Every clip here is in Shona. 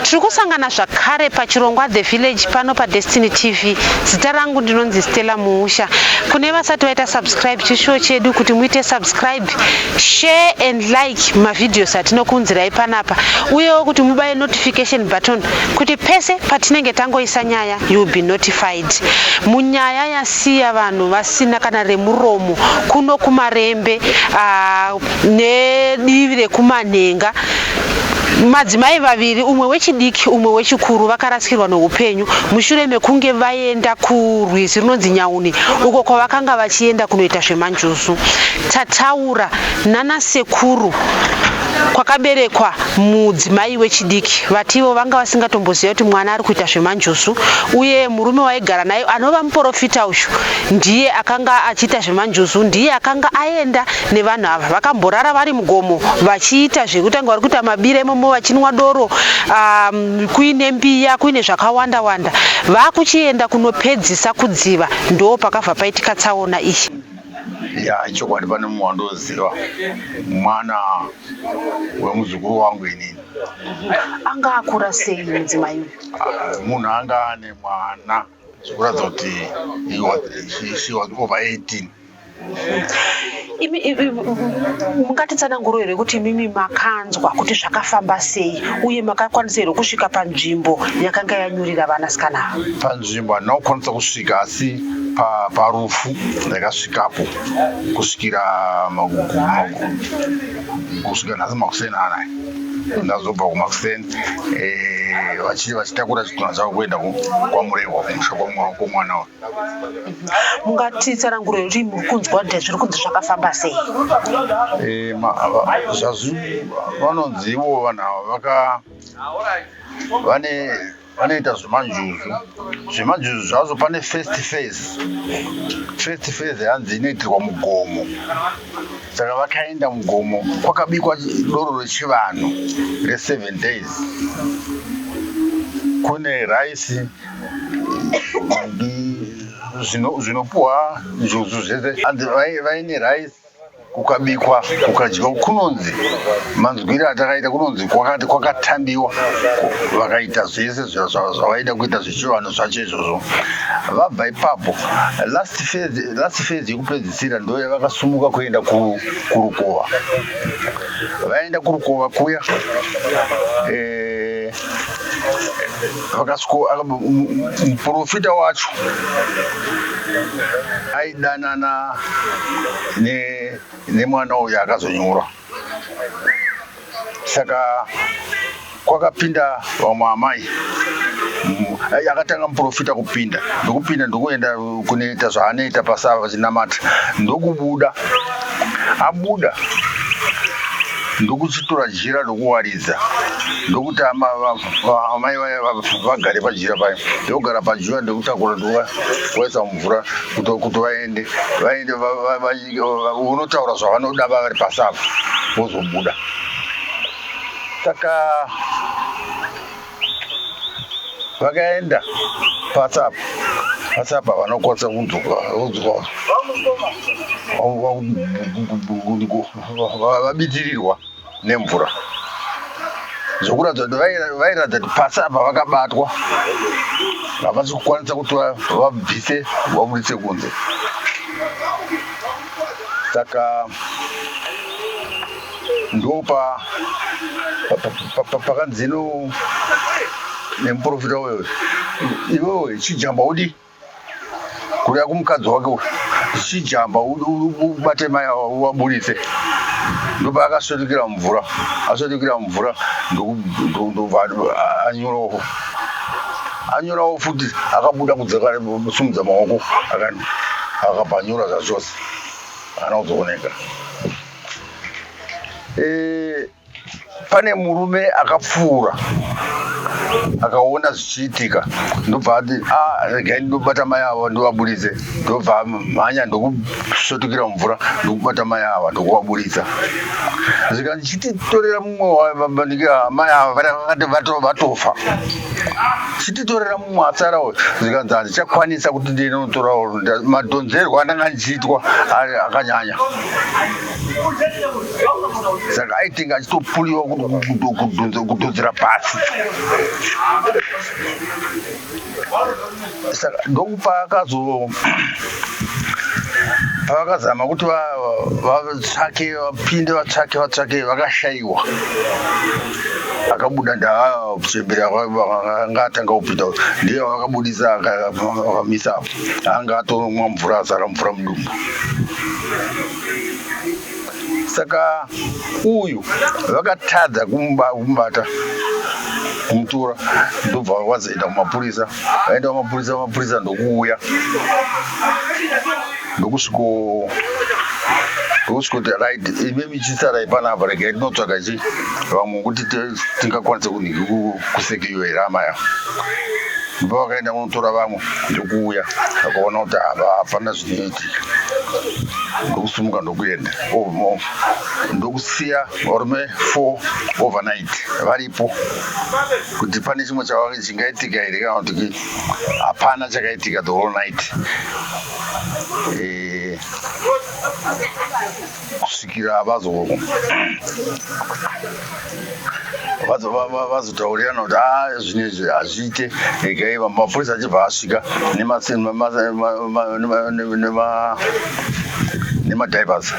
tiri kusangana zvakare pachirongwa the village pano padestiny tv zita rangu ndinonzi stella muusha kune vasati vaita subscribe chishuwo chedu kuti muite subscribe share and like mavhidhios atinokuunzirai panapa uyewo kuti mubaye notification button kuti pese patinenge tangoisa nyaya you will be notified Pride munyaya yasiya vanhu vasina kana remuromo kuno kuMarembe ah, nedivi rekuManhenga madzimai vaviri umwe wechidiki umwe wechikuru vakarasikirwa neupenyu mushure mekunge vaenda kurwizi runonzi nyauni uko kwavakanga vachienda kunoita zvemanjuzu tataura nana sekuru kwakaberekwa mudzimai wechidiki vati ivo vanga vasingatomboziva kuti mwana ari kuita zvemanjuzu uye murume waigara naye anova muporofita uyu ndiye akanga achiita zvemanjuzu ndiye akanga aenda nevanhu ava vakamborara vari mugomo vachiita zvekutanga vari kuita mabira imomo vachinwa doro um, kuine mbiya kuine zvakawanda wanda vakuchienda kunopedzisa kudziva ndo pakabva paitika tsaona iyi ya chokwadi pane mumwe wandoziva mwana wemuzukuru wangu inini anga akura sei mudzimai ah, munhu anga ane mwana zvikuratidza kuti she was over 18 mungatitsananguro here kuti mimi makanzwa kuti zvakafamba sei uye makakwanisa here kusvika panzvimbo yakanga yanyurira vanasikana panzvimbo handina kukwanisa kusvika asi parufu ndakasvikapo kusvikira kusvika nhasi makuseni anaya ndazobva kumakuseni eh, vachii vachitakura chitunha chavo kuenda kwamurehwa kumusha kwamwana wa mungati tsananguro yoti muri kunzwa kuti zviri kunzi zvakafamba sei eh, zvazvi vanonzi ivo vanhu ava vaka vane vanoita zvemanjuzu zvemanjuzu zvazo pane first phase first phase hanzi inoitirwa mugomo saka vakaenda mugomo kwakabikwa doro rechivanhu reseven days kune raisi zvinopuhwa njuzu zvese hanzi vaine raisi kukabikwa kukadyiwa kunonzi manzwire atakaita kunonzi kwakati kwakatambiwa vakaita zvese zvavaida kuita zvechivanhu zvacho izvozvo vabva ipapo last phase yekupedzisira ndo yavakasumuka kuenda kurukova vaenda kurukova kuya eh, vakasiko muprofita wacho aidanana nemwana ne uyo akazonyura saka kwakapinda vamwe amai akatanga muprofita kupinda ndokupinda ndokuenda kunoita zvaanoita pasava vachinamata ndokubuda abuda ndokuchitora jira ndokuwarira Ndakazviratidza ndokuti amai vaya vagare pajira paya ndokugara pajira ndokutakura ndokuvaisa mumvura kuti vaende vaende unotaura zvavanoda vavari pasi apo vozobuda saka vakaenda pasi apo pasi apa vanokwanisa kunzwa vabitirirwa nemvura zvokuratidza kuti vairatidza kuti pasi apa vakabatwa havasi kukwanisa kuti vabvise vabudise kunze saka ndopa pakanzino nemuprofita uyo iwewe chijamba udii kuda kumukadzi wake uyu chijamba ubate mai awa uwaburitse ndoba akasvetukira mumvura asvetukira mumvura ndobva anyorawo anyorawo futi akabuda kudzaka sumudza maoko akabva anyora zvachose ana kuzooneka eh, pane murume akapfuura akaona zvichiitika ndobva ati ah, regai ndobata mai ava ndovaburitse ndobva mhanya ndokusvetukira mumvura ndokubata mai ava ndokuvaburitsa zvika ndichititorera mumwe wavanike ah, mai ava vakati vatofa chititorera mumwe atsara uyo zvikanzi handichakwanisa kuti ndiende notora madhonzerwo andanga ndichiitwa akanyanya saka aitenga achitopuliwa kudhonzera pasi saka ndokupaakazo pavakazama kuti vatsvake vapinde vatsvake vatsvake vakashaiwa akabuda ndaakuchembera anga atanga kupinda ndiye vakabudisa akamisa anga atomwa mvura azara mvura mudumbu saka uyu vakatadza kumubata kumutora ndobva vazoenda kumapurisa vaenda kumapurisa mapurisa ndokuuya ndokusviko ndokusvikoti right ime michisarai panapa regai tinotsvaga chi vamwe kuti tingakwanise kunhiki kusekiyo here hama yavo ndobva vakaenda kunotora vamwe ndokuuya vakaona kuti hapana zvinoiti ndokusumuka ndokuenda ndokusiya varume four overnight varipo kuti pane chimwe chava chingaitika here kana kuti hapana chakaitika the whole night e... kusvikira vazo vazotaurirana kuti ah, zvine izvi hazviite regai mapurisa achibva asvika nemadivers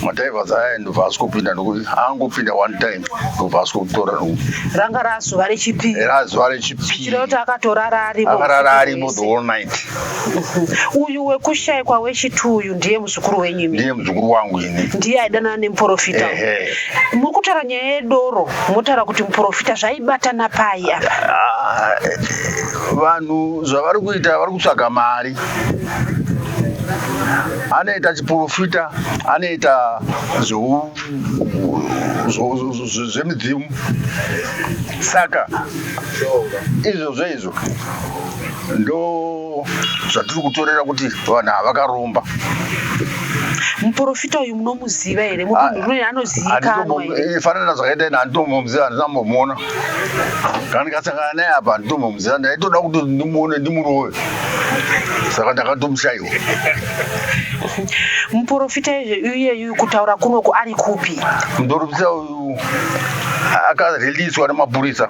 madivers aya ndobva asvikopinda nokuti angopinda one time ndobva asvikokutora noku ranga razuva rechipi razuva rechipi kuti akatorara arimo akarara arimo the whole night uyu wekushaikwa wechitu uyu ndiye muzukuru wenyu imi ndiye muzukuru wangu ini ndiye aidanana nemuporofita Ehe. muri kutaura nyaya yedoro motaura kuti muporofita zvaibatana pai apa Ah, eh, vanhu zvavari kuita vari kutsvaga mari anoita chiporofita anoita zveu- zvo- zvo- zvo- zvo- zvemidzimu saka izvozvo izvo ndo zvatiri kutorera kuti vanhu havakaromba muporofita uyu munomuziva here mutunhuruye ah, anozivikanwafanana eh, zvakaita ini handitombomuziva handisambomuona kana ndikasangana naye apa handitombomuziva ndaitoda kuti ndimuone ndimurove saka ndakatomushaiwa muporofita iyeyu kutaura kunoku ari kupi muporofita akareleaswa nemapurisa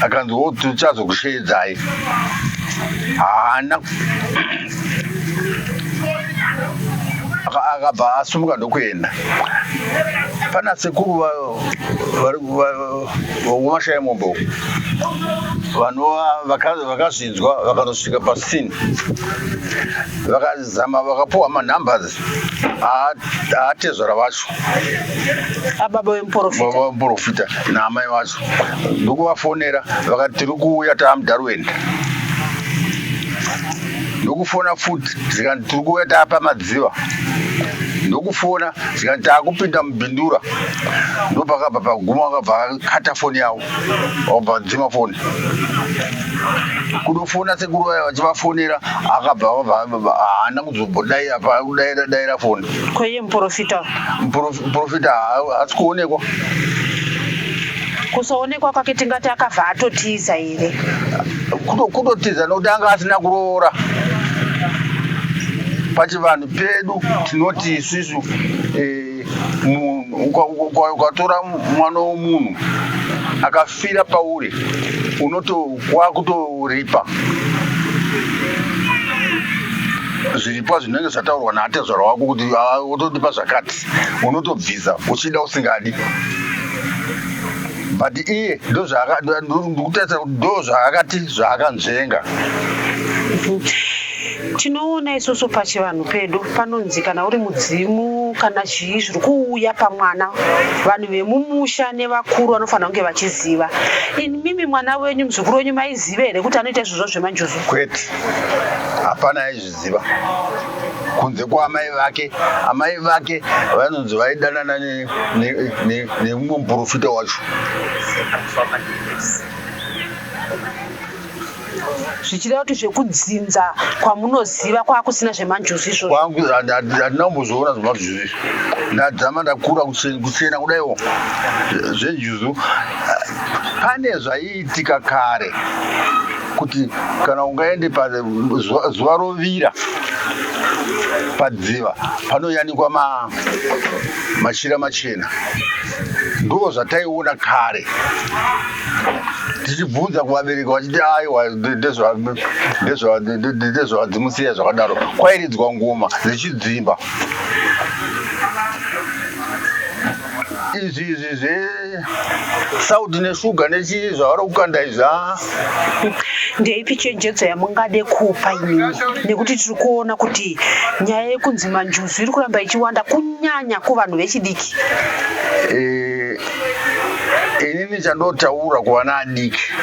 akanzi wo tichazokusheedzai haana akabva asumuka ndokuenda pana sekuru vomashaya mombo vanova vakazvinzwa vakanosvika pasini Zama vakapuwa manumbers aatezvara vacho ababa vemuporofita baba vemuporofita naamai vacho ndokuvafonera vakati tiri kuuya taamudarwenda ndokufona futi zvikanzi tiri kuuya taapa madziva ndokufona zvikanzi taakupinda mubindura ndopakabva paguma akabva akata foni yavo obva dzima foni kudofona sekuru vaya vachivafonera akabva haana kuzobodai apa kudaira daira foni kweye muprofita muprofita haasi kuonekwa kusaonekwa kwake tingati akabva atotiza here kutotiza nokuti anga asina kuroora pachivanhu pedu tinoti isusu eh, ukatora mwana womunhu akafira pauri unoto wakutoripa zviripa zvinenge zvataurwa naatezvara wako kuti ah, wotodipa zvakati unotobvisa uchida usingadi but iye ndokutarisira kuti ndo zvaakati zvaakanzvenga tinoona isusu pachivanhu pedu panonzi kana uri mudzimu kana chii zviri kuuya pamwana vanhu vemumusha nevakuru vanofanira kunge vachiziva ini mimi mwana wenyu muzukuru wenyu maiziva here kuti anoita izvozvo zvemanjuzu kwete hapana aizviziva kunze kwaamai vake amai vake vanonzi vaidanana nemumwe muprofita wacho zvichireva kuti zvekudzinza kwamunoziva kwakusina zvemanjuzu izvozvo kwangu handina kumbozoona zvemanjuzu izvi ndadzama ndakura kusiyana kudaiwo zvenjuzu pane zvaiitika kare kuti kana ungaende pazuva rovira padziva panoyanikwa mashira machena ndoo zvataiona kare tichibvunza kuvabereki vachiti aiwa ndezvadzimusiya zvakadaro kwairidzwa ngoma dzichidzimba izvi izvi zvesaudi neshuga nechii zvavari kukanda izvi ah. ndeipi chenjedzo yamungade kupa inini nekuti tiri kuona kuti nyaya yekunzi manjuzu iri kuramba ichiwanda kunyanya kuvanhu vechidiki eh, inini chandotaura kuvana adiki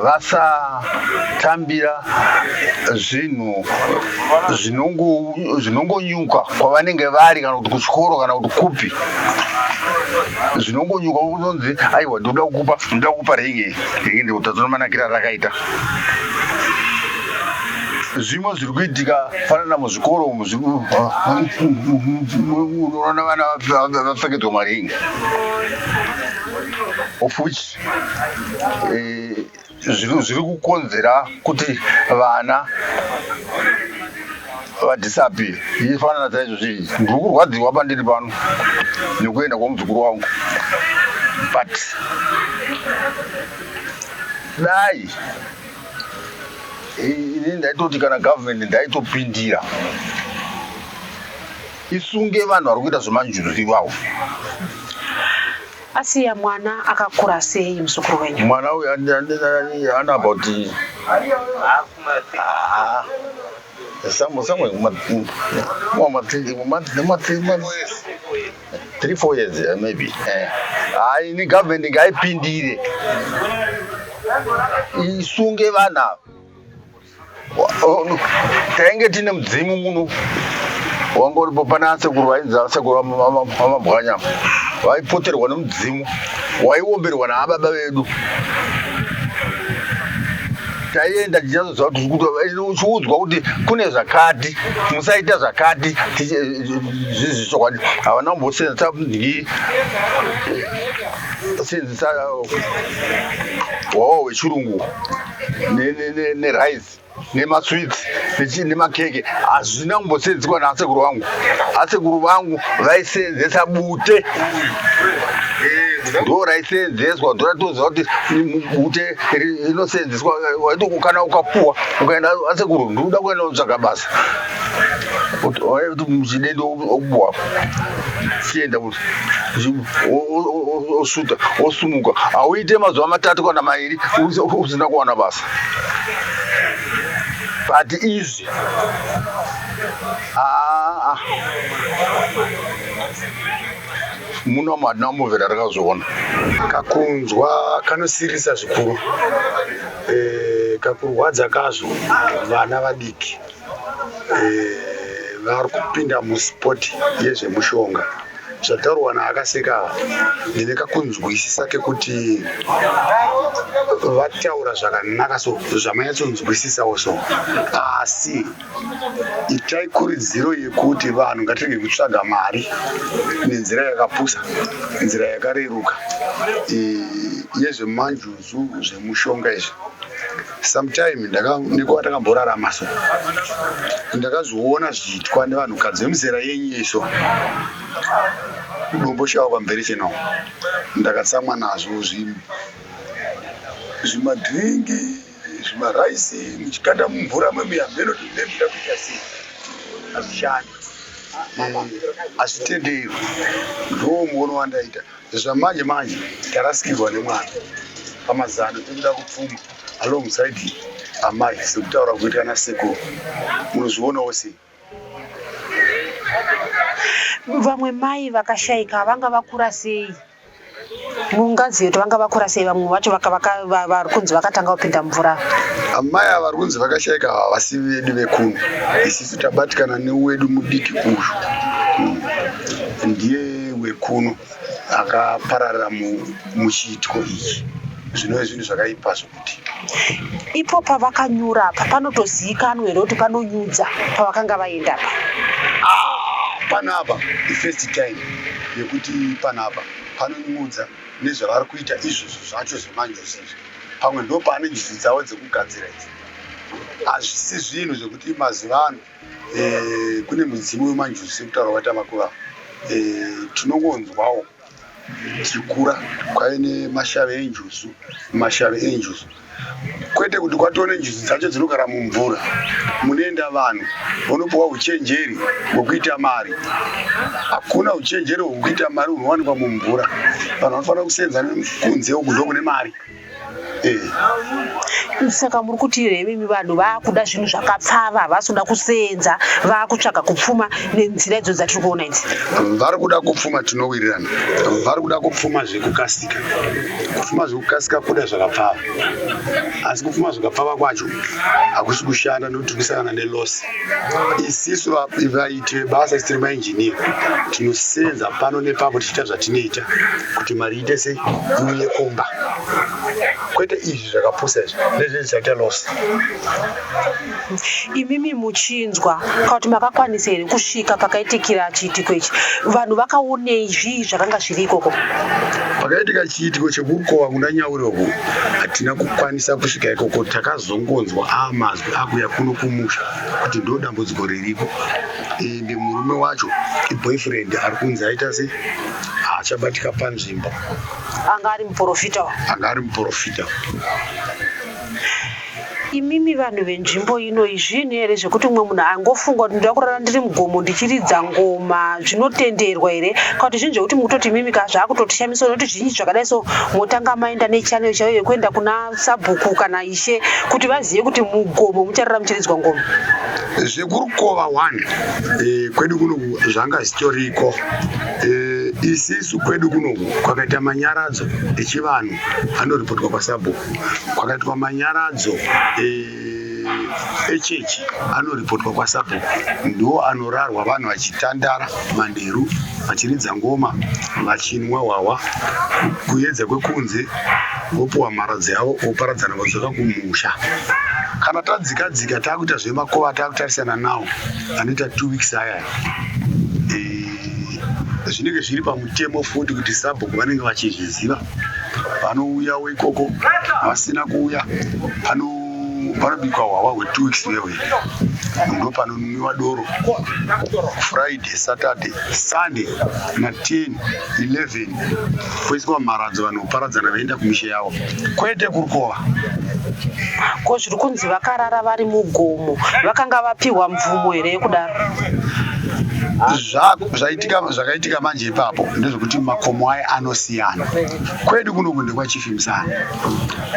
vasatambira zvinhu zvinongonyuka kwavanenge vari kana kuti kuchikoro kana kuti kupi zvinongonyuka kunonzi aiwa ndinoda kukupa ndinoda kukupa ringi ringi ndikutadzona manakira rakaita zvimwe zviri kuitika fanana muzvikoro umu unoona vana vapfekedzwa maringi of which eh, zviri kukonzera kuti vana vadhisapi ifanana saizvo zvii ndiri kurwadziwa pandiri pano nekuenda kwamuzukuru wangu but dai ini ndaitoti kana government ndaitopindira isunge vanhu vari kuita zvemanjuzu ivawo asiya mwana akakura sei muzukuru wenyu mwana uyu ana about somewhere 3 4 years eh, maybe eh hayi ini government ngaipindire isunge vanhu ava tainge tine mudzimu muno wangoripo pane asekuru vainzi asekuru vamabwanyama vaipoterwa nemudzimu waiomberwa naababa vedu taienda tichazoziva kuti eh, uchiudzwa kuti kune zvakati musaita zvakati eh, zvizi chokwadi havana kumbosenza ndii senzisa hwawa hwechirungu nerice nemasweets nemakeke hazvina kumbosenziswa naasekuru vangu asekuru vangu vaisenzesa bute ndo raisenzeswa ndoratoziva kuti bute inoseenzeswa waiti kana ukapuwa ukaenda ase kurundu uda kuenda unotsvaga basa kuti muchide ndokupuwa chienda kuti osuta osumuka hauite mazuva matatu kana mairi usina kuwana basa but izvi aa ah, ah. munomu hatina kumbovera rakazviona kakunzwa kanosirisa zvikuru e, kakurwadza kazvo vana vadiki e, vari kupinda muspoti yezvemushonga zvataurwa naakaseka ndine kakunzwisisa kekuti vataura zvakanaka so zvamanyatsonzwisisawo so asi itai kuridziro yekuti vanhu ngatirege kutsvaga mari nenzira yakapusa nzira yakareruka yezvemanjuzu zvemushonga izvi sometime nekuva takamborarama so ndakazviona zvichiitwa nevanhukadzi vemuzera yenyu iso kudomboshawa kwamberi chino ndakatsamwa nazvo zvimadringi zvimaraisi muchikanda mumvura mami hameno kuti mune muda kuita sei hazvishandi hazvitendewi ndoo muono wandaita zvamanje manje tarasikirwa nemwana pamazano tekuda kupfuma alongside amai sekutaura kuita ana sekuru munozvionawo sei vamwe mai vakashaika vanga vakura sei mungazive kuti vanga vakura sei vamwe vacho vari kunzi vakatanga kupinda mvura amai ava vari kunzi vakashaika havasi vedu vekuno isisu tabatikana newedu mudiki uyu hmm. ndiye wekuno akapararira muchiitiko ichi zvinove zvinhu zvakaipazvo ipo pavakanyura apa panotozivikanwa here kuti panonyudza pavakanga vaenda apa ah, panapa ifirst time yekuti panapa panonyudza nezvavari kuita izvozvo zvacho zvemanjuzi izvi pamwe ndo paane njuzi dzavo dzekugadzira idzi hazvisi zvinhu zvekuti mazuva ano eh, kune mudzimu wemanjuzi sekutaura kwatamakuvavo eh, tinongonzwawo e, Dzikura kwave nemashave enjuzu, mashave enjuzu kwete kuti kwatove nenjuzu dzacho dzinogara mumvura munoenda vanhu vonopiwa uchenjeri hwekuita mari. Hakuna uchenjeri hwekuita mari hunowanikwa mumvura, vanhu vanofanira kuseenza kunze uku ndokune mari. saka muri kuti here imimi vanhu vaakuda zvinhu zvakapfava havasi kuda kuseenza vaakutsvaga kupfuma nenzira idzo dzatiri kuona idzi vari kuda kupfuma tinowirirana vari kuda kupfuma zvekukasika kupfuma zvekukasika kuda zvakapfava asi kupfuma zvakapfava kwacho hakusi kushanda nokuti kusangana nelosi isisu Tine basa isi tiri mainjiniya tinosenza pano nepapo tichiita zvatinoita kuti mari iite sei iuye kumba kwete izvi zvakapusa izvi nezvizvi zvaita loss imimi muchinzwa kana kuti makakwanisa here kusvika pakaitikira chiitiko ichi vanhu vakaonei zvii zvakanga zviri ikoko pakaitika chiitiko chekukowa kuna nyauri uku hatina kukwanisa kusvika ikoko takazongonzwa amazwi akuya kuno kumusha kuti ndo dambudziko riripo ende murume wacho iboyfriend ari kunzi aita se haachabatika panzvimbo anga ari muprofita anga ari muprofita imimi vanhu venzvimbo ino izvinhu here zvekuti umwe munhu angofunga kuti ndoda kurara ndiri mugomo ndichiridza ngoma zvinotenderwa here kana kuti zvinhu zvekuti mukutoti imimi ka zvaakutotishamisa unoti zvinyi zvakadai so motanga maenda nechanel chaiyo yekuenda kuna sabhuku kana ishe kuti vazive kuti mugomo mucharara muchiridzwa ngoma zvekurukova one e, kwedu kuno zvanga zvitoriko e, isisu kwedu kuno kwakaita manyaradzo echivanhu anoripotwa kwasabhuku kwakaitwa manyaradzo e, echechi anoripotwa kwasabhuku ndo anorarwa vanhu vachitandara manheru vachiridza ngoma vachinwa hwahwa kuyedza kwekunze vopuwa mharadzi yavo voparadzana vodzoka kumusha kana tadzika dzika takuita zvemakuva takutarisana nawo anoita two weeks aya zvinenge zviri pamutemo futi kuti sabhuku vanenge vachizviziva vanouyawo ikoko vasina kuuya pano panobikwa hwahwa hwetu weeks wewe ndo panonwiwa doro friday saturday sunday na 10 11 poiswa mharadzo vanhu kuparadzana vaenda kumisha yavo kwete kurukova ko zviri kunzi vakarara vari mugomo vakanga vapiwa mvumo here yekudaro zvaitika manje ipapo ndezvekuti makomo aya anosiyana kwedu kuno kunde kwachifimsana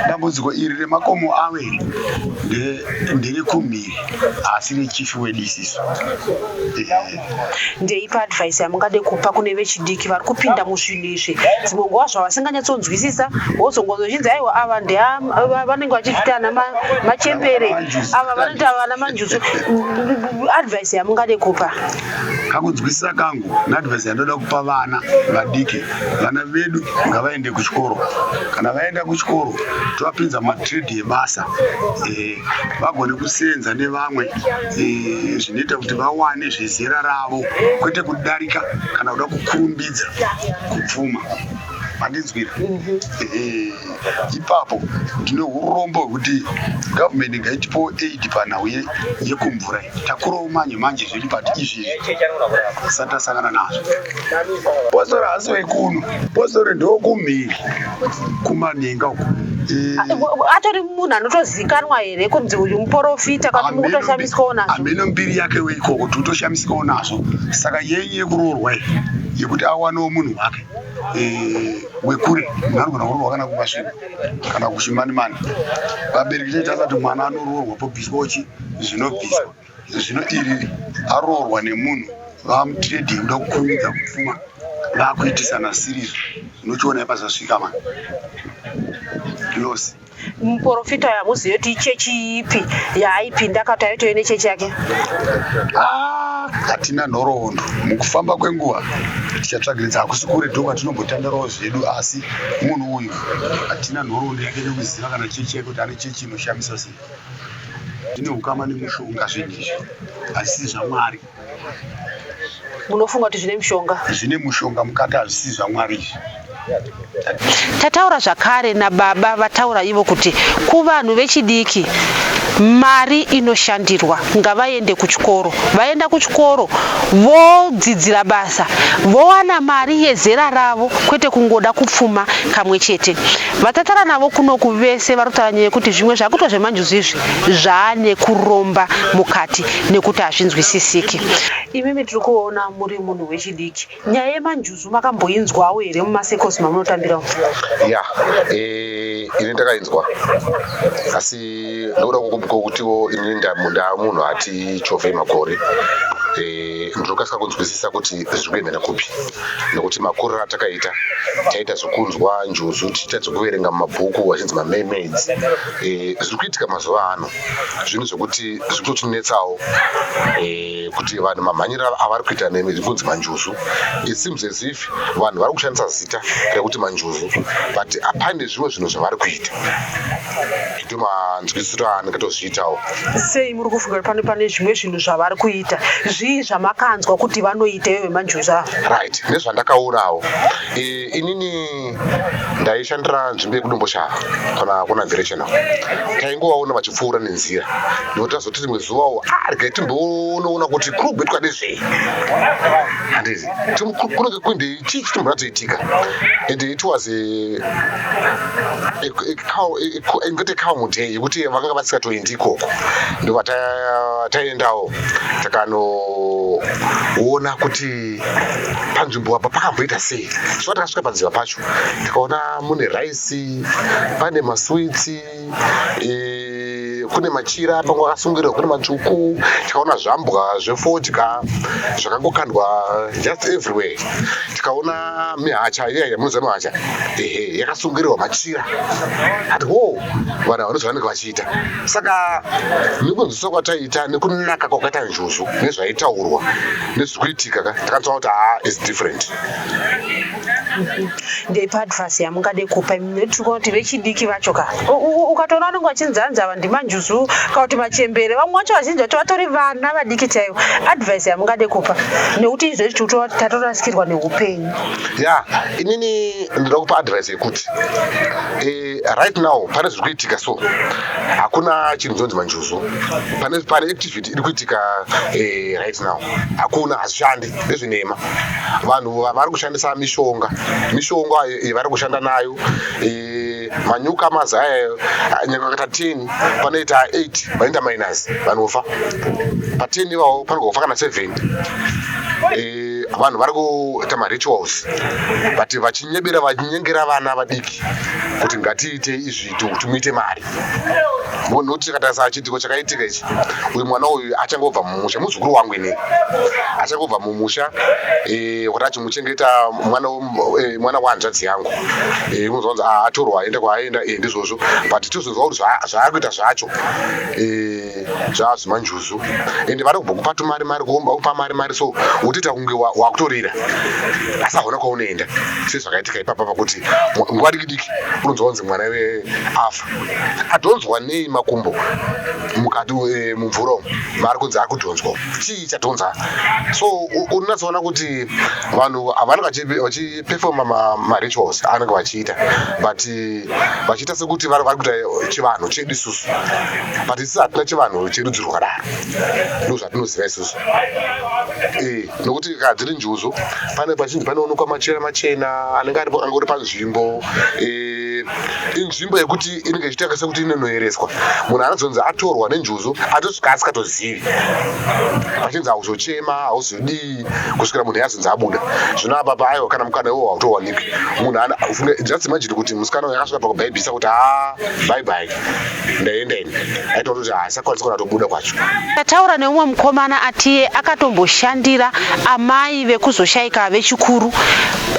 dambudziko iri remakomo awe ndere kumhiri asi rechifi wedisiso eh. ndeipa advice yamungade kupa kune vechidiki vari kupinda muzvinhu izvi dzimwe nguva zvavasinganyatsonzwisisa wozongozochinzi aiwa ava ndevanenge vachizvita ana machembere ava vanoita vana manjuzu advice yamungade kupa kakunzwisisa kangu neadvice yandoda kupa vana vadiki vana vedu ngavaende kuchikoro kana vaenda kuchikoro tovapinza matrade ebasa eh, vagone kuseenza nevamwe eh, zvinoita kuti vawane zvezera ravo kwete kudarika kana kuda kukurumbidza kupfuma mandinzwira mhm. eh, ipapo ndine urombo hwekuti gavhumeni ngaitipowo aid panhau yekumvura takurawo manje manje zvedu but izvi tisati tasangana nazvo bosora hasi wekuno bosora ndokumhiri kumaninga uku eh, atori munhu anotozikanwa here kunzi uyu muporofita kana mukutoshamisikawo nazvo hameno mbiri yake weiko kuti utoshamisikawo nazvo saka yenyu yekuroorwa iyi yekuti awanewo munhu wake eh, wekure munarugona kuroorwa kana kumasvino kana kuchimanimani vabereki chaita asati mwana anoroorwa pobviswa uchi zvinobviswa zvino iri aroorwa nemunhu vamutrade yekuda kukurumidza kupfuma vakuitisana siriri unochiona ipazasvika mani losi muporofita uyo hamuzive kuti ichechi ipi yaaipinda akati aitove nechechi yake ah, hatina nhoroondo mukufamba kwenguva tichatsvagiridza hakusi kure ndo kwatinombotandarawo zvedu asi munhu uyu hatina nhoroondo yake nekuziva kana chechi yake kuti ane chechi inoshamisa sei Zvine hukama nemushonga zvinhu izvi hazvisi zvamwari. Munofunga kuti zvine mushonga? Zvine mushonga mukati hazvisi zvamwari izvi. Tataura zvakare nababa vataura ivo kuti kuvanhu vechidiki mari inoshandirwa ngavaende kuchikoro vaenda kuchikoro vodzidzira basa vowana mari yezera ravo kwete kungoda kupfuma kamwe chete Vatatara navo kunoku vese varikutaura nyaya yekuti zvimwe zvakuitwa zvemanjuzu izvi zvaane kuromba mukati nekuti hazvinzwisisiki. Imimi tiri kuona muri munhu wechidiki, nyaya yemanjuzu makamboinzwawo here mumasekos mamunotambira umu? Ya, eh, ini ndakainzwa asi ndokuda kukumbukwa kutiwo ini ndamunhu ati chovhei makore eh, ndinokasika kunzwisisa kuti zviri kuendera kupi. nokuti makuriro atakaita taita zvekunzwa njuzu tichiita dzekuverenga mumabhuku vachinzi mamermaids eh, zviri kuitika mazuva ano zvinhu zvekuti zviri kutotinetsawo eh, kuti vanhu mamhanyiro avari kuita nekunzi manjuzu it seems as if vanhu vari kushandisa zita rekuti manjuzu but hapane zvimwe zvinhu zvavari kuita ndo manzwisiro andikatozviitawo sei muri kufunga kuti pane pane zvimwe zvinhu zvavari kuita zvii zvamakanzwa kuti vanoita ivo vemanjuzu ava right nezvandakaurawo e, inini ndaishandira nzvimbo yekudomboshava kana kuna directional taingovaona vachipfuura nenzira nekuti tazoti rimwe zuvawo arga ah, timboonoona kuti kuri kugwetwa nezvei handizi kunenge kuindei chii chiti muradzaitika and it was ingati calm day yekuti vakanga vasikatoendi ikoko ndobva taendawo takanoona kuti panzvimbo apa pakamboita sei so takasvika panziva pacho tikaona mune rice pane maswitsi e, kune machira pamwe akasungirirwa kune matsvuku tikaona zvambwa zvefodya zvakangokandwa just everywhere tikaona mihacha iya yamunoziva mihacha ehe yakasungirirwa machira ati wo vanhu havanozi vanenge vachiita saka nekunzwiswa kwataiita nekunaka kwakaita njuzu nezvaitaurwa nezviri kuitika ka takanzwa kuti haa is different ndeipi advice yamungade kupa tikuona kuti vechidiki vacho ka ukatoona vanenge vachinzi hanzi ava ndimanjuzu kana kuti machembere vamwe vacho vazhinji vacho vatori vana vadiki chaivo advice yamungade kupa nekuti izvo izvi tatorasikirwa neupenyu ya inini ndinoda kupa advice yekuti eh, right now pane zviri kuitika so hakuna chinhu chinonzi manjuzu pane activity iri kuitika eh, right now hakuna hazvishandi vezvinhema vanhu vari kushandisa mishonga mishonga yevari kushanda nayo e, manyuka mazaya nyakakata 10 panoita 8 vanoita minus vanofa pa 10 ivavo panogofa kana 7 e, vanhu vari kuita marituals but vachinyebera vachinyengera vana vadiki kuti ngatiite izvi kuti muite mari munhu kuti chakatarisa chiitiko chakaitika ichi uyu mwana uyu achangobva mumusha muzukuru wangu ini achangobva mumusha eh, kuti achimuchengeta mwana eh, mwana wahanzvadzi yangu eh, unonzwa kunzi ah, atorwa aenda kwaaenda ndizvozvo but tozonzwa kuti zvaakuita zvacho zvaazvimanjuzu ende vari kubva kupa tumari mari kuomba kupa mari mari so wotoita kunge wakutorira asi hauna kwaunoenda sezvakaitika ipapa pakuti nguva mudiki unonzwa kunzi mwana iwe afa adhonzwa nei makumbo mukati eh, mumvura umu maari kunzi ari kudhonzwa chii chadhonza so unonatsoona kuti vanhu havanenge vachipefoma marituals anenge vachiita but eh, vachiita sekuti vari kuita chivanhu chedu isusu but isi hatina chivanhu cherudzi rwakadaro ndozvatinoziva isusu eh, nokuti kana dziri njuzu pane pachinzi panoonekwa machira machena anenge aripo angori panzvimbo eh, inzvimbo yekuti inenge ichiita sekuti inonoereswa munhu anozonzi atorwa nenjuzu atosvika asikatozivi pachinzi hauzochema hauzodii kusvikira munhu yazonzi abuda zvino apa paaiwa kana mukana iwo hautowanike munhu just imagine kuti musikana uyo akasvika pakubhaibhisa kuti ha ah, bye bye ndaenda ini aitoona kuti haasakwanisa kana kutobuda kwacho tataura neumwe mukomana atiye akatomboshandira amai vekuzoshaika vechikuru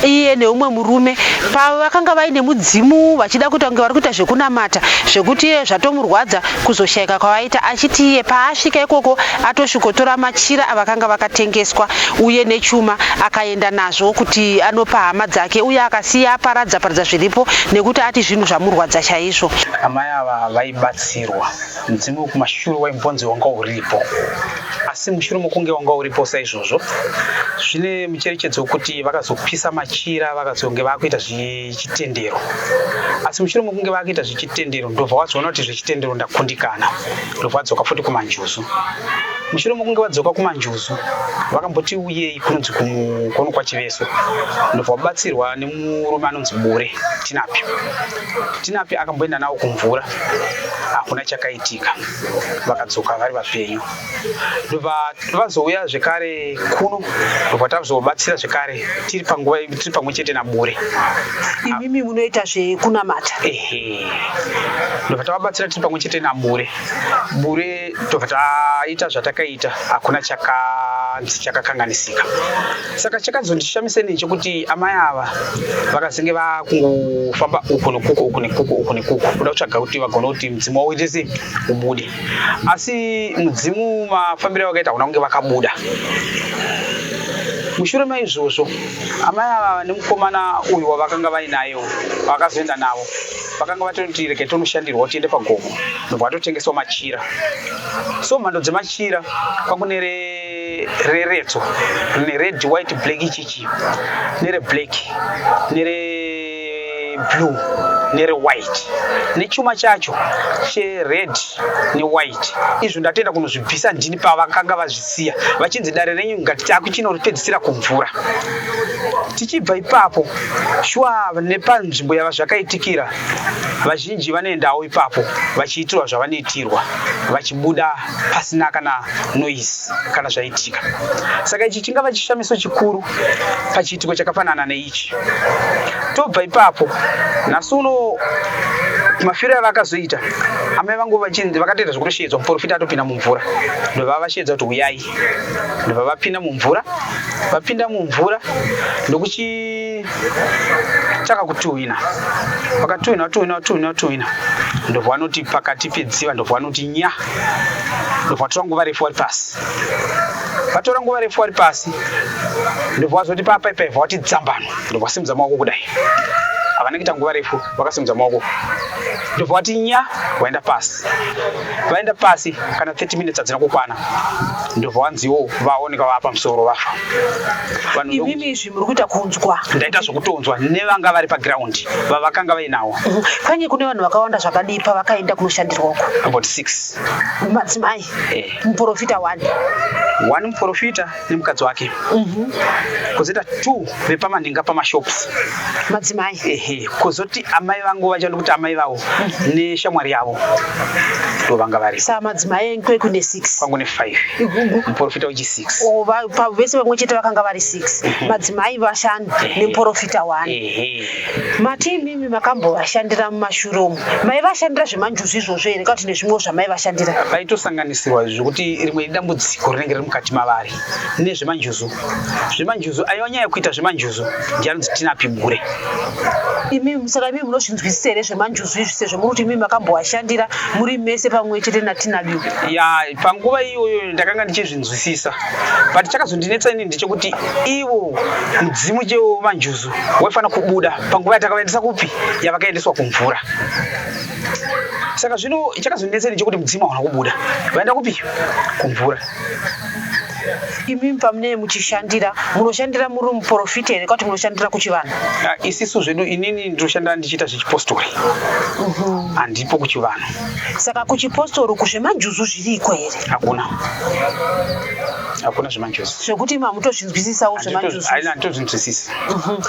iye neumwe murume pavakanga vaine mudzimu vachida kuita kunge vari kuita zvekunamata zvekuti iye zvatomurwadza kuzoshaika kwavaita achiti iye paasvika ikoko atosvikotora machira avakanga vakatengeswa uye nechuma akaenda nazvo kuti anopa hama dzake uye akasiya aparadza paradza zviripo nekuti ati zvinhu zvamurwadza chaizvo ava vaibatsirwa mudzimu wekumashure waimbonzi wanga uripo asi mushure mokunge wanga uripo saizvozvo zvine mucherechedzo wekuti vakazopisa machira vakazonge vakuita zvechitendero asi mushure mokunge vakuita zvechitendero ndobva wazoona kuti zvechitendero ndakundikana ndobva wadzoka futi kumanjuzu mushure mokunge vadzoka kumanjuzu vakamboti uyei kunonzi kuno kwachiveso ndobva vabatsirwa murume anonzi bure tinapi tinapi akamboenda nawo kumvura hakuna chakaitika vakadzoka vari vapenyu ndobva vazouya zvekare kuno ndobva tazobatsira zvekare tiri panguva tiri pamwe chete nabure imimi munoita zvekunamata ehe ndobva tavabatsira tiri pamwe chete nabure bure tobva taita zvatakaita hakuna chakanzi chakakanganisika saka chakazondishamisa nei chekuti amai ava vakazenge vakungofamba uku nekuku uku nekuku uku nekuku kuda kutsvaga kuti vagone kuti mudzimu wavo uite sei ubude asi mudzimu mafambiro avakaita hakuna kunge vakabuda mushure maizvozvo amai ava nemukomana uyu wavakanga vainayo vakazoenda navo vakanga vatoti rege tonoshandirwa tiende pagomo nobva vatotengeswa machira so mhando dzemachira kwakunere reredzo rine red white black ichichi nere black nere blue nere white nechuma chacho chered newhite izvo ndatenda kunozvibvisa ndini pavakanga vazvisiya vachinzi dare renyu ngatiti akuchinoripedzisira kumvura tichibva ipapo shuwa nepanzvimbo yava zvakaitikira vazhinji vanoendawo ipapo vachiitirwa zvavanoitirwa vachibuda pasina kana noise kana zvaitika saka ichi chingava chishamiso chikuru pachiitiko chakafanana neichi tobva ipapo nhasi uno mafiro avakazoita amai vangu vachinzi vakatoita zvekutoshedzwa muporofita atopinda mumvura ndobva vashedza kuti uyai ndobva vapinda mumvura vapinda mumvura ndokuchi taka kutuhwina vakatuhwina vatuhwina vatuhwina vatuhwina ndobva vanoti pakati pedziva ndobva vanoti nya ndobva vatora nguva refu vari pasi vatora nguva refu vari pasi ndobva vazoti papa ipaibva vati dzambano ndobva vasimudza maoko kudai havana kuita nguva refu vakasimudza maoko ndobva vati nya vaenda pasi vaenda pasi kana 30 minutes hadzina kukwana ndobva vanziwo vaoneka vaa pamusoro vafa vanhu muri kuita kunzwa ndaita zvokutonzwa nevanga vari paground vavakanga vainawo mhm. kwenye kune vanhu vakawanda zvakadii pavakaenda kunoshandirwa uko about six madzimai eh. muprofita one one muprofita nemukadzi wake mhm. kozoita two vepamanhinga pamashops madzimai ehe kozoti amai vangu vachada kuti amai vavo mhm. neshamwari yavo ndovanga vari sa madzimai enkweku nesix kwangu nefive muprofita wechisi vese vamwe chete vakanga vari six mhm. madzimai vashanu neprofita one mati imimi makambovashandira mumashure umu maivashandira zvemanjuzu izvozvo here kauti nezvimwewo zvamaivashandira vaitosanganisirwa zvekuti rimwe idambudziko rinenge riri mukati mavari nezvemanjuzu zvemanjuzu aiva nyaya yekuita zvemanjuzu ndianonzi tinapigure imimi saka imimi munozvinzwisisa here zvemanjuzu izvi sezvo muri kuti imimi makambovashandira muri mese pamwe chete natinabiu ya panguva iyoyo ndakanga ndichizvinzwisisa but chakazondinetsa ini ndechekuti ivo mudzimu chewo manjuzu waifanira kubuda panguva yatakaendesa kupi yavakaendeswa kumvura saka zvino chakazondinetsa ini chekuti mudzimu hauna kubuda vaenda kupi kumvura imimi pamunee muchishandira munoshandira muri muprofita here kwati munoshandira kuchivanhu ah, isisu zvedu inini ndinoshandira ndichiita zvechipostori mhm. handipo kuchivanhu Saka kuchipostori uku zvemajuzu zviriko here? Hakuna. Hakuna zvemajuzu. Zvekuti imi hamutozvinzwisisawo zvemajuzu? Haina, handitozvinzwisisi. Mhm.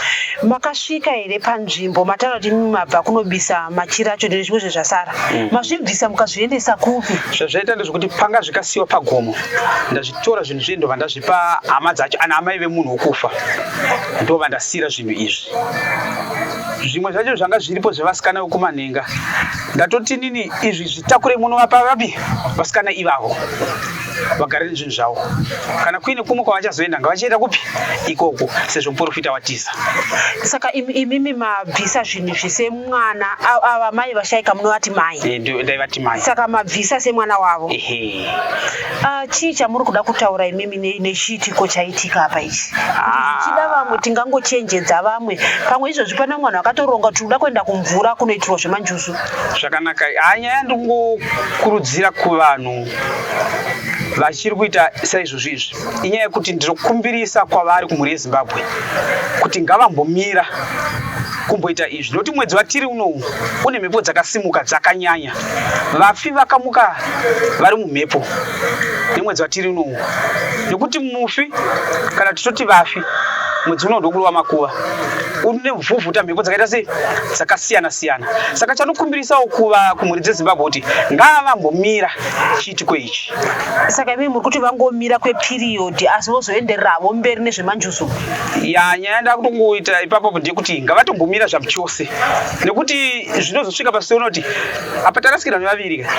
Makasvika here panzvimbo mataura kuti imi mabva kunobisa machira acho nezvimwe zvezvasara? Mm. Mazvibvisa mukazviendesa kupi? Zvazvaita ndezvekuti panga zvikasiwa pagomo ndazvitora zvinhu zviye ndobva ndazvipa hama dzacho ana amai vemunhu wokufa ndobva ndasira zvinhu izvi zvimwe zvacho zvanga zviripo zvevasikana vekumanhenga ndatoti nini izvi zvitakure muno vapa vapi vasikana ivavo vagare nezvinhu zvavo kana kuine kumwe kwavachazoenda ngavachienda kupi ikoko sezvo muporofita watiza saka imimi mabvisa zvinhu zvese mwana ava mai vashaika munovati mai eh, ndaivati mai saka mabvisa semwana wavo Ah, chii chamuri kuda kutaura imimi ne- nechiitiko chaitika apa ichi tichida vamwe tingangochenjedza vamwe pamwe izvozvi pane mwana akatoronga kuti uda kuenda kumvura kunoitirwa zvemanjuzu zvakanaka Ah, nyaya ndingokurudzira kuvanhu vachiri kuita saizvozvi izvi inyaya yekuti ndinokumbirisa kwavari kumhuri yezimbabwe kuti ngavambomira kumboita izvi nokuti mwedzi watiri unowu une mhepo dzakasimuka dzakanyanya vafi vakamuka vari mumhepo nemwedzi watiri unowo nekuti mufi kana titoti vafi mwedzi uno ndokurova makuva une vhuvhuta mhepo dzakaita sei dzakasiyana siyana saka chanokumbirisawo kuva kumhuri dzezimbabwe kuti ngaavambomira chiitiko ichi saka imii muri kuti vangomira kwepiriyodhi asi vozoendereravo mberi nezvemanjuzu ya nyaya ndakutongoita ipapo ndekuti ngavatombomira zvamuchose nekuti zvinozosvika pasi unoti apa tarasikirwa nevaviri ka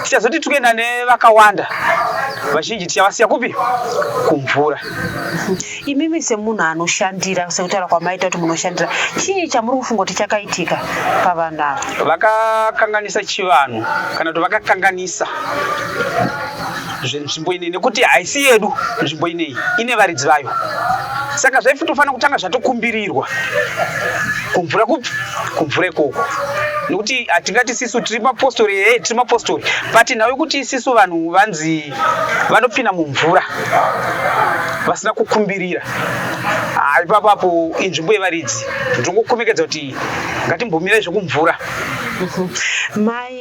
tichazoti tikuenda nevakawanda vazhinji tichavasiya kupi kumvura imimi semunhu anoshandira sekutaura kwamaita kuti munoshandira chii chamuri kufunga kuti chakaitika pavanhu ava vakakanganisa chivanhu kana kuti vakakanganisa nzvimbo ineyi nekuti haisi yedu nzvimbo ineyi ine varidzi vayo saka zvaifitofanira kutanga zvatokumbirirwa kumvura kupi kumvura ikoko nekuti hatingati ah, sisu tiri mapostori ee eh, tiri mapostori but nhau yekuti isisu vanhu vanzi vanopinda mumvura vasina kukumbirira ah, ipapo apo inzvimbo yevaridzi ndongokomekedza kuti ngatimbomirai zvekumvura mai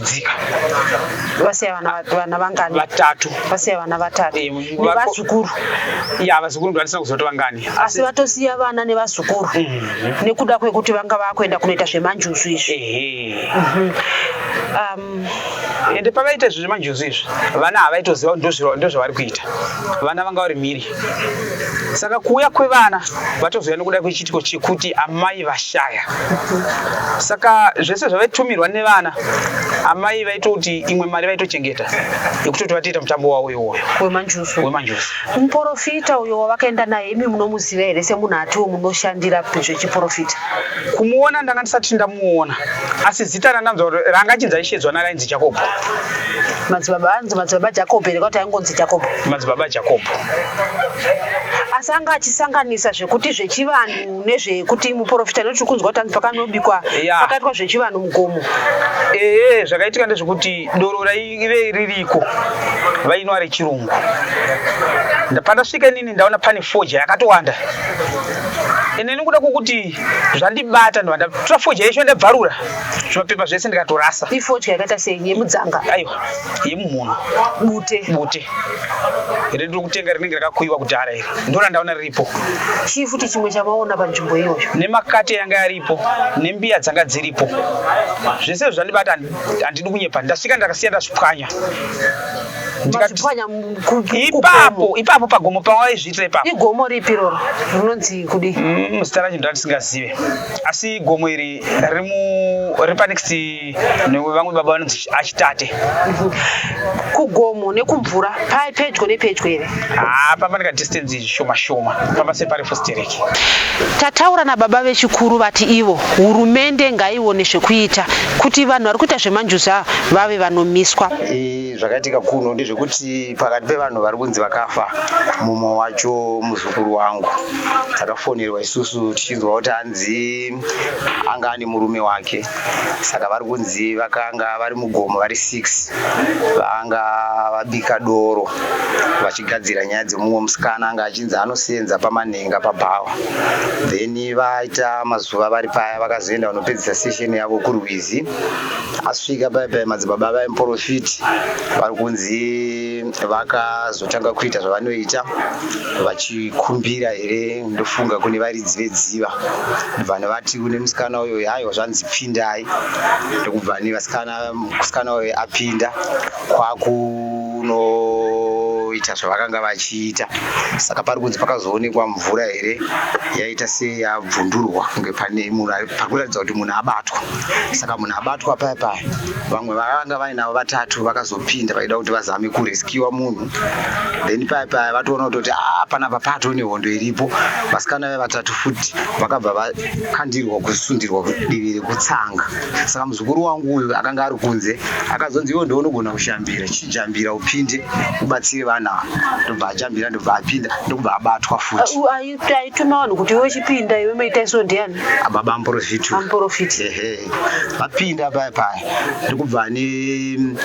dzika vasiya vana vana vangani vatatu vasiya vana vatatu Eh, vako- nevazukuru ya vazukuru ndo vatisina kuzoti vangani asi vatosiya vana nevazukuru nekuda kwekuti vanga vakuenda kunoita zvemanjuzu izvi ehe um, ende pavaita izvi zvemanjuzu izvi vana havaitoziva kuti ndozva- ndozvavari kuita vana vanga vari mhiri saka kuuya kwevana vatozouya nokuda kwechiitiko chekuti amai vashaya saka zvese zvavaitumirwa nevana amai vaitoti imwe mari vaitochengeta yekutoti vatoita mutambo wavo iwoyo wemanjusu wemanjusu muporofita uyo wavakaenda naye imi munomuziva here semunhu atiwo munoshandira zvechiporofita kumuona ndanga ndisati ndamuona asi Zita randanzwa kuti ranga chinzi aishe dzwana rainzi Jacob. Madzibaba anzi madzibaba Jacob here kwati aingonzi Jacob. Madzibaba Jacob. Asi anga achisanganisa zvekuti zvechivanhu nezvekuti muporofita nekuti kunzwa kuti anzi pakanobikwa yeah. pakaitwa zvechivanhu mugomo. Ehe zvakaitika ndezvekuti doro raive ririko vainwa rechirungu. Pandasvika inini ndaona pane foja yakatowanda. Ende nekuda kwokuti zvandibata ndobva ndatora fodya yeshe ndabvarura zvimapepa zvese ndikatorasa ifodya yakaita sei yemudzanga aiwa yemumhuno bute bute iri ndiri kutenga rinenge rakakuyiwa kudhara iri ndona ndaona riripo chii futi chimwe chamaona panzvimbo iyoyo nemakate yanga yaripo nembiya dzanga dziripo zvese zvandibata handidi kunyepa ndasvika ndakasiya ndazvipwanya ipapo ipapo pagomo pawaizviitira ipapo igomo ripi iroro rinonzi kudii mm, zita racho ndatisingazive asi gomo iri riri panext nevamwe baba vanonzi achitate mhm. kugomo nekumvura pai pedyo nepedyo here haa pamba nekadistance shoma shoma pamba separefu stereki tataura nababa vechikuru vati ivo hurumende ngaione zvekuita kuti vanhu vari kuita zvemanjuza vave vanomiswa e Zvakaitika kuno ndezvekuti pakati pevanhu vari kunzi vakafa mumwe wacho muzukuru wangu. Takafonerwa isusu tichinzwa kuti hanzi anga ane murume wake. Saka vari kunzi vakanga vari mugomo vari six vanga vabika doro vachigadzira nyaya dzemumwe musikana anga achinzi anoseenza pamanhenga pabhawa. Then vaita mazuva vari paya vakazoenda vanopedzisa session yavo kurwizi. asvika pai pai madzibaba vaya muporofiti vari kunzi vakazotanga kuita zvavanoita vachikumbira here ndofunga kune varidzi vedziva ndobva nevati kune musikana uyo haiwa zvanzi pindai ndokubva nevasikana musikana uyo apinda kwakunoita zvavakanga vachiita saka pari kunzi pakazoonekwa mvura here yaita seyabvundurwa kunge pane munhu ari- pari kuratidza kuti munhu abatwa saka munhu abatwa paya paya vamwe vakanga vainavo vatatu vakazopinda vaida kuti vazame kureskiwa munhu then paya paya vatoona kutoti "Ah, panapa pato nehondo iripo vasikana ve vatatu futi vakabva vakandirwa kusundirwa divi rekutsanga saka Muzukuru wangu uyu akanga ari kunze akazonzi iwe ndiwe unogona kushambira chijambira upinde ubatsire vana ava ndobva ajambira ndobva apinda ndokubva abatwa futi Uh, ayi- aituma vanhu kuti iwe chipinda iwe maita iso ndiani ababa amporofiti amporofiti ehe vapinda paya paya ndikubva ane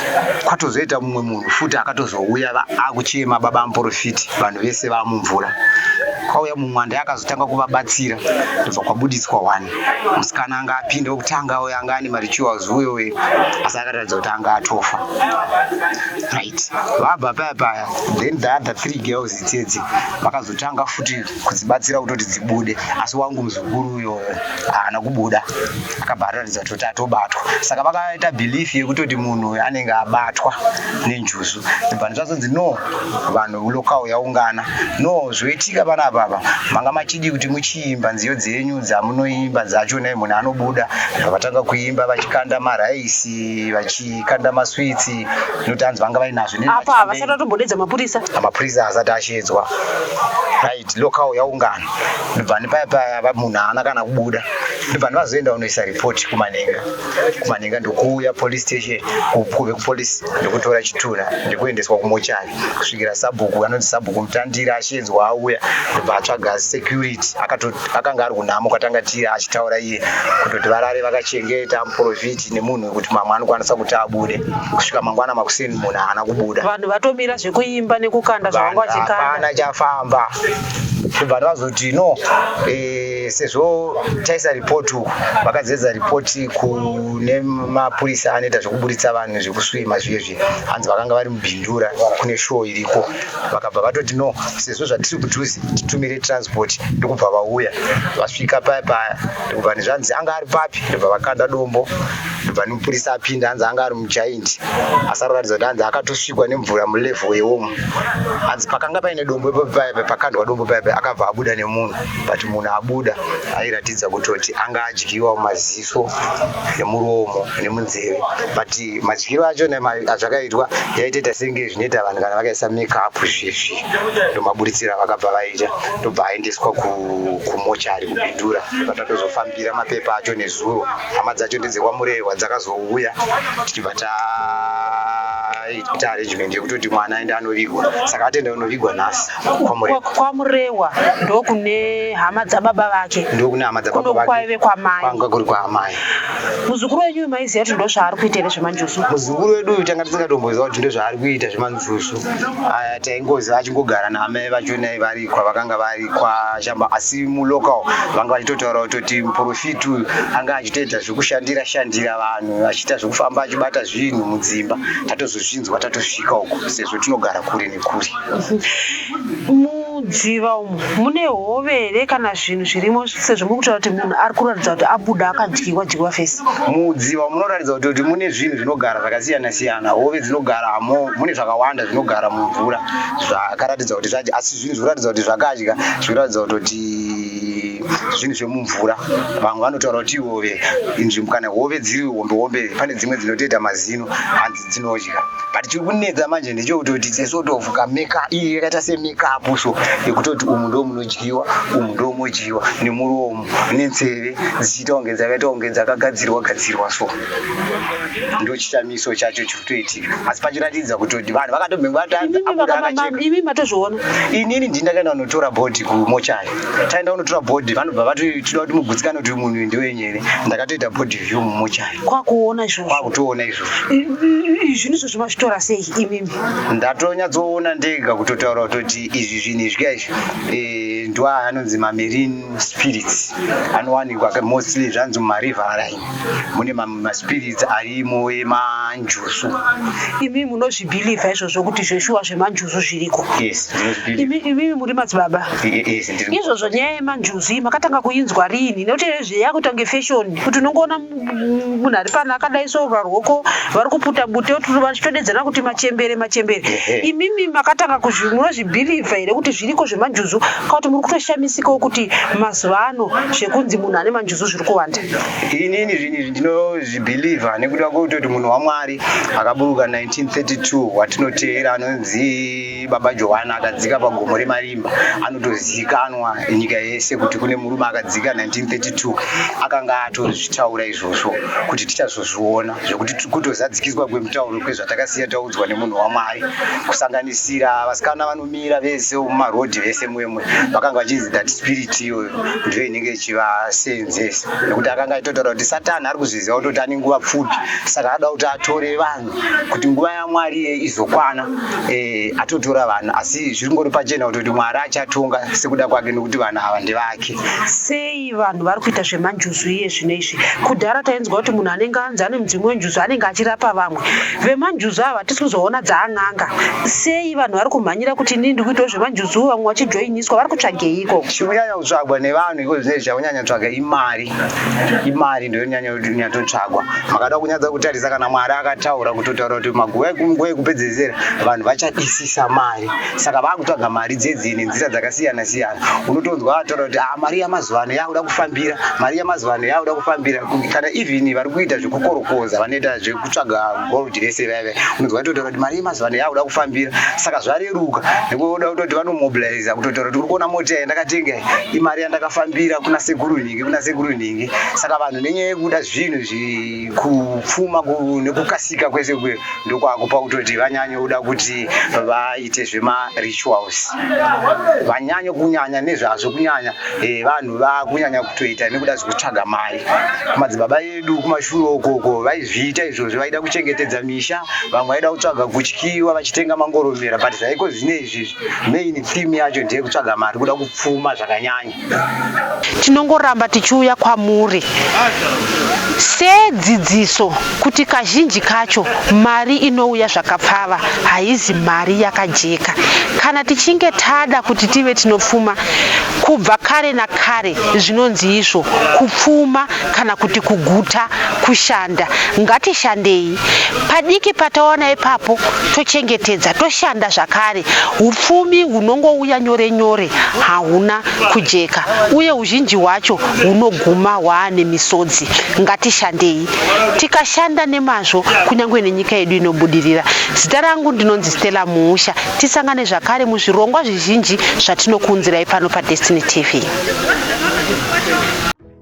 kwatozoita mumwe munhu futi akatozouya va- akuchema baba amporofiti vanhu vese vamumvura kwauya mumwanda akazotanga kuvabatsira ndobva kwabudiswa wani musikana anga apinde wekutanga uyo anga ane marituals uyo uyo asi akataridza kuti anga atofa right vabva paya paya then the other three girls idzedzi vakazotanga futi kudzibatsira kutoti dzibude asi wangu muzukuru uyo haana kubuda akabva ataridza kuti atobatwa saka vakaita belief yekutoti munhu uyo anenge abatwa nenjuzu vanhu zvazonzi no vanhu local yaungana no zvoitika vana vava manga machidi kuti muchiimba nziyo dzenyu dzamunoimba dzacho nei munhu anobuda vatanga kuimba vachikanda maraisi vachikanda maswitsi noti hanzi vanga vainazvo apa havasati vatombodedza mapurisa mapurisa asati ashedzwa right local yaungana ndobva nepaya paya munhu haana kana kubuda ndobva ndivazoenda unoisa report kumanenga kumanenga ndokuuya police station kuve kupolice ndokutora chitunha ndokuendeswa kumochari kusvikira sabhuku anonzi sabhuku mutandira achinzwa auya ndobva atsvaga security akanga ari kunhamo kwatanga tiri achitaura iye kutoti varare vakachengeta muprofiti nemunhu wekuti mamwe anokwanisa kuti abude kusvika mangwana makuseni munhu haana kubuda vanhu vatomira zvekuimba nekukanda zvavanga vachikandahapana chafamba ndobva ndavazoti no eh, sezvo taisa ripoti uku vakadzidza ripoti kune mapurisa anoita zvekuburitsa vanhu zvekusvima zviye zviye hanzi vakanga vari mubindura kune show iriko vakabva vatoti no sezvo zvatiri kudhuze titumire transport ndokubva vauya vasvika paya paya ndokubva nezvanzi anga ari papi ndobva vakanda dombo ndobva nemupurisa apinda hanzi anga ari mujaindi asaroratidza kuti hanzi akatosvikwa nemvura mulevel yewomu hanzi pakanga paine dombo ipapi paya paya pakandwa dombo paya paya akabva abuda nemunhu but munhu abuda airatidza kutoti anga adyiwa maziso nemuromo nemunzeve but madyiro acho azvakaitwa yaitoita senge zvinoita vanhu kana vakaisa makeup zvezvi ndomaburitsira vakabva vaita ndobva aendeswa kumochari kubindura patatozofambira mapepa acho nezuro hama dzacho ndedzekwamurehwa dzakazouya tichibva ta ita arrangement yekutoti mwana aende anovigwa saka atenda unovigwa nhasi kwamurewa ndokune hama dzababa vake ndokune hama dzababa vake kwaive kwamai kwanga kuri kwaamai muzukuru wenyu uyu maiziva kuti ndozvaari kuita here zvemanjusu muzukuru wedu uyu tanga tisingatomboziva kuti ndozvaari kuita zvemanjusu aya taingoziva achingogara naamai vachonai vari kwavakanga vari kwashamba asi mulocal vanga vachitotaura kutoti muprofiti uyu anga achitoita zvekushandira shandira vanhu achiita zvekufamba achibata zvinhu mudzimba tatozozvinzwa tatosvika uku sezvo tinogara kure nekure mudziva umu mune hove here kana zvinhu zvirimo sezvo muri kutaura kuti munhu ari kuratidza kuti abuda akadyiwa dyiwa fesi mudziva munoratidza kuti kuti mune zvinhu zvinogara zvakasiyana siyana hove dzinogara mo mune zvakawanda zvinogara mumvura zvakaratidza kuti zvadya asi zvinhu zvikuratidza kuti zvakadya zvikuratidza kuti zvinhu zvemumvura vamwe vanotaura kuti ihove inzvimbo kana hove dziri hombe hombe pane dzimwe dzinotoita mazino hanzi dzinodya but chiri kunetsa manje ndechekuti kuti sesort of kameka iyi yakaita semekapu so yekutoti umu ndo munodyiwa umu ndo modyiwa nemuromo nenzeve dzichiita kunge dzakaita kunge dzakagadzirwa gadzirwa so ndo chitamiso chacho chiri kutoitika asi pachiratidza kutoti vanhu vakatobhenga vatadza abuda akacheka imi matozviona inini ndini ndakaenda kunotora bhodhi kumochari taenda kunotora bhodhi vanobva vati tinoda kuti mugutsikane kuti uyu munhu uyu ndewenyu here ndakatoita bhodhi view mumochari kwakuona izvozvo kwakutoona izvo zvinhu izvozvo mazvitora sei imimi ndatonyatsoona ndega kutotaura kutoti izvi zvinhu izvi ka izvi eh, ndwa anonzi mamarine spirits anowanikwa mostly zvanzi mumariver line mune maspirits arimo emanjusu imi munozvibhilivha izvozvo kuti zveshuwa zvemanjusu zviriko imimi muri madzibaba izvozvo nyaya yemanjusu iyi makatanga kuinzwa rini nekuti zveyakutange fashion kuti unongoona munhu ari pano akadai so varwoko vari kuputa bute vachitodedzana kuti machembere machembere imimi makatanga munozvibhilivha here kuti zviriko zvemanjuzu ka kuti muri kutoshamisikawo kuti mazuva ano zvekunzi munhu ane manjuzu zviri kuwanda inini zvinhu izvi ndinozvibhilivha nekuda kwekutoti munhu wamwari akaburuka 1932 watinoteera anonzi Baba Johana akadzika pagomo remarimba anotozikanwa nyika yese kuti kune murume akadzika 1932 akanga atozvitaura izvozvo kuti tichazozviona zvekuti kutozadzikiswa kwemutauro kwezvatakasiya taudzwa nemunhu wamwari kusanganisira vasikana vanomira vese mumarodhi vese mwemwe vakanga vachinzi that spirit iyoyo ndiyo inenge ichivaseenzesa nekuti akanga aitotaura kuti satani ari kuzviziva kutoti ane nguva pfupi saka ada kuti atore vanhu kuti nguva yamwari iye izokwana eh, atotora vanhu asi zviri ngori pachena kutoti mwari achatonga sekuda kwake nokuti vanhu ava ndevake sei vanhu vari kuita zvemanjuzu iye zvino izvi kudhara tainzwa kuti munhu anenge anzi ane mudzimu wenjuzu anenge achirapa vamwe vemanjuzu ava hatisi kuzoona dzaan'anga sei vanhu vari kumhanyira kuti inini ndiri kuitawo zvemanjuzu vamwe vachijoiniswa vari kutsvageiko chikunyanya kutsvagwa nevanhu iko zvinei zvakunyanya tsvaga imari imari ndoyonyanya nyatsotsvagwa makada kunyadza kutarisa kana mwari akataura kutotaura kuti maguva ekunguva yekupedzesera vanhu vachadisisa mari saka vakutsvaga mari dzedzii nenzira dzakasiyana siyana unotonzwa ataura kuti ah, mari yamazuva ano yakuda kufambira mari yamazuva ano yakuda kufambira kana even vari kuita zvekukorokoza vanoita zvekutsvaga gold vese vaive unonzwa totaura kuti mari yemazuva ano yakuda kufambira saka zvareruka nekuoda kutoti vanomobiliza kutotaura kuti uri kuona mota yandakatenga imari yandakafambira kuna sekuru nhingi kuna sekuru nhingi saka vanhu nenyaya yekuda zvinhu zvekupfuma nekukasika kwese kwe ndokwakupa kutoti vanyanye kuda kuti vaite zvemarituals vanyanye kunyanya nezvazvo kunyanya eh, vanhu vakunyanya kutoita nekuda zvekutsvaga mari kumadzibaba edu kumashure ukoko vaizviita izvozvo vaida kuchengetedza misha vamwe vaida kutsvaga kutyiwa vachitenga mangoromera but zvaiko zvine izvizvi main theme yacho ndeyekutsvaga mari kuda kupfuma zvakanyanya Tinongoramba tichiuya kwamuri sedzidziso kuti kazhinji kacho mari inouya zvakapfava haizi mari yakajeka. Kana tichinge tada kuti tive tinopfuma, kubva kare nakare zvinonzi izvo kupfuma kana kuti kuguta kushanda. Ngatishandei. padiki patawana ipapo tochengetedza toshanda zvakare upfumi hunongouya nyore nyore hahuna kujeka uye uzhinji hwacho hunoguma hwaane misodzi ngatishandei tikashanda nemazvo kunyange nenyika yedu inobudirira zita rangu ndinonzi stella muusha tisangane zvakare muzvirongwa zvizhinji zvatinokuunzirai pano padestiny tv